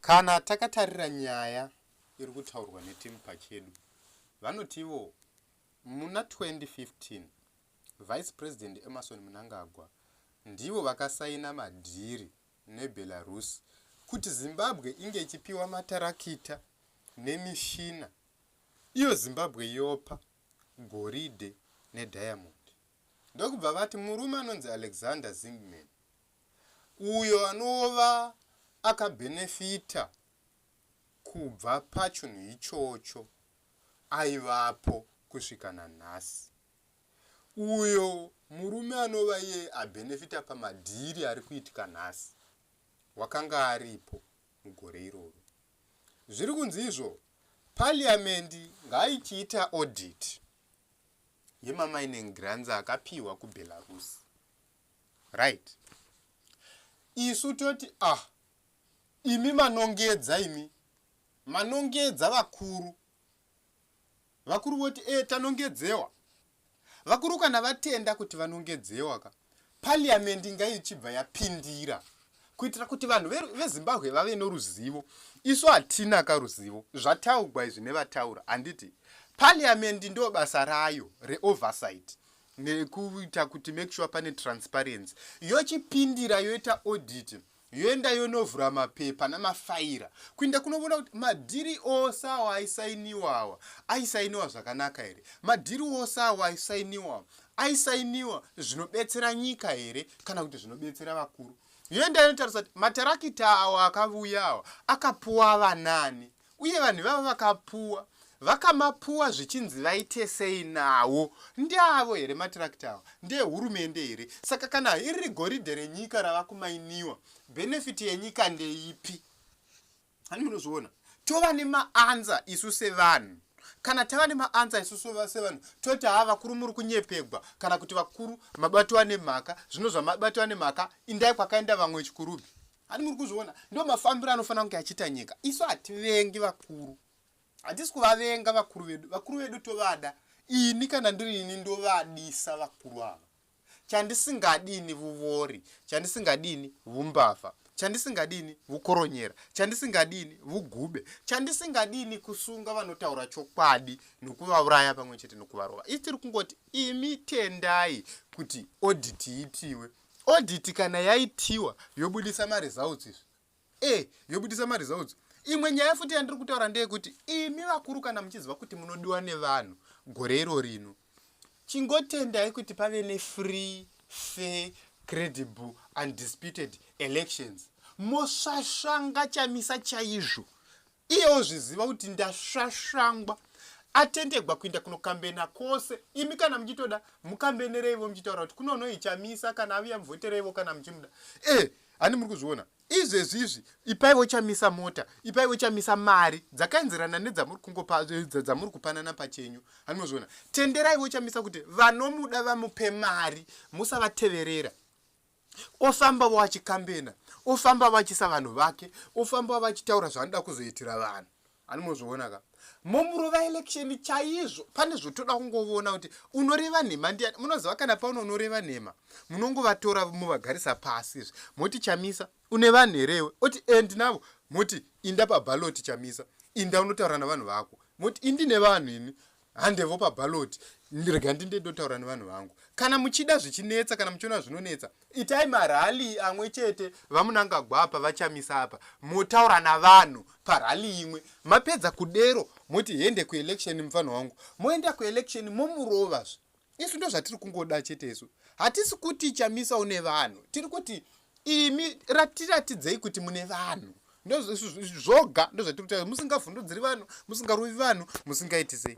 Kana takatarira nyaya iri kutaurwa netimu pachedu, vanotivo muna 2015 Vice President Emmerson Mnangagwa ndivo vakasaina madhiri neBelarus kuti Zimbabwe inge ichipiwa matarakita nemishina iyo Zimbabwe yopa goridhe nediamond ndokubva vati murume anonzi Alexander Zingman uyo anova akabhenefita kubva pachinhu ichocho aivapo kusvika nanhasi. Uyo murume anova iye abhenefita pamadhiri ari kuitika nhasi wakanga aripo mugore iroro. Zviri kunzi izvo parliamendi ngaichiita audit yemamining grants akapiwa kubelarus right isu toti ah imi manongedza imi manongedza vakuru vakuru voti e tanongedzewa vakuru kana vatenda kuti vanongedzewa ka parliament inga ichibva yapindira kuitira kuti vanhu vezimbabwe ve vave noruzivo isu hatina ka ruzivo zvataugwa izvi nevataura handiti parliament ndo basa rayo reoversight nekuita kuti make sure pane transparency yochipindira yoita audit yoenda yonovhura mapepa namafaira kuinda kunovona kuti madhiri ose awo aisainiwa awa aisainiwa zvakanaka here madhiri ose awo aisainiwa aisainiwa zvinobetsera nyika here kana kuti zvinobetsera vakuru yoenda yonotarisa kuti matarakita awo akavuya awa akapuwa vanani uye vanhu ivavo vakapuwa vakamapuwa zvichinzi vaite sei nawo ndeavo here matirakita awa ndehurumende here saka kana iri goridhe renyika rava kumainiwa bhenefiti yenyika ndeipi hani munozviona tova nemaanza isu sevanhu kana tava nemaanza isu sevanhu toti haa vakuru muri kunyepegwa kana kuti vakuru mabatiwa nemhaka zvino zvamabatiwa nemhaka indai kwakaenda vamwe chikurubhi Hani muri kuzviona ndo mafambiro anofanira kunge achiita nyika. Isu hativengi vakuru. Hatisi kuvavenga vakuru vedu. Vakuru vedu tovada. Ini kana ndiri ini ndovadisa vakuru ava. Chandisingadini vuvori, chandisingadini vumbavha, chandisingadini vukoronyera, chandisingadini vugube, chandisingadini kusunga vanotaura chokwadi nokuvauraya pamwe chete nokuvarova. Isi tiri kungoti imi tendai kuti audit iitiwe. Audit kana yaitiwa yobudisa ma results izvi. Eh, yobudisa ma results. Imwe nyaya futi yandiri kutaura ndeyekuti imi vakuru kana muchiziva kuti munodiwa nevanhu gore iro rino. Chingotendai kuti pave ne free, fair, credible and disputed elections. Mosvasvanga chamisa chaizvo. Iye ozviziva kuti ndasvasvangwa atentegwa kuinda kunokambena kwose imi kana muchitoda mukambenereivo muchitaura kuti kunonoichamisa kana aviya muvhotereivo kana muchimuda e handi muri kuzviona izvezvi izvi ipaivo chamisa mota ipaivo chamisa mari dzakaenzerana nedzamuri kungopa dzamuri kupanana pachenyu handi mozviona tenderaivo chamisa kuti vanomuda vamupe mari musavateverera ofamba vachikambena ofamba vachisa vanhu vake ofamba vachitaura zvaanoda kuzoitira vanhu ani mozviona ka momurova election chaizvo pane zvotoda kungovona kuti unoreva nhema ndiani munoziva kana pauno unoreva nhema munongovatora muvagarisa pasi izvi moti chamisa une vanhu herewe oti end navo moti inda pabaloti chamisa inda unotaura navanhu vako moti indine vanhu ini handevo paballot rega ndinde ndotaura nevanhu vangu kana muchida zvichinetsa kana muchiona zvinonetsa itai marali amwe chete vamunangagwa apa vachamisa apa motaura navanhu parali imwe mapedza kudero moti hende kuelection mufana wangu moenda kuelection momurovazve isu ndo zvatiri kungoda chete isu hatisi kuti chamisa une vanhu tiri kuti imi ratiratidzei kuti mune vanhu ndozvoga ndozvatiri kutaura musingavhundudziri vanhu musingarovi vanhu musingaiti sei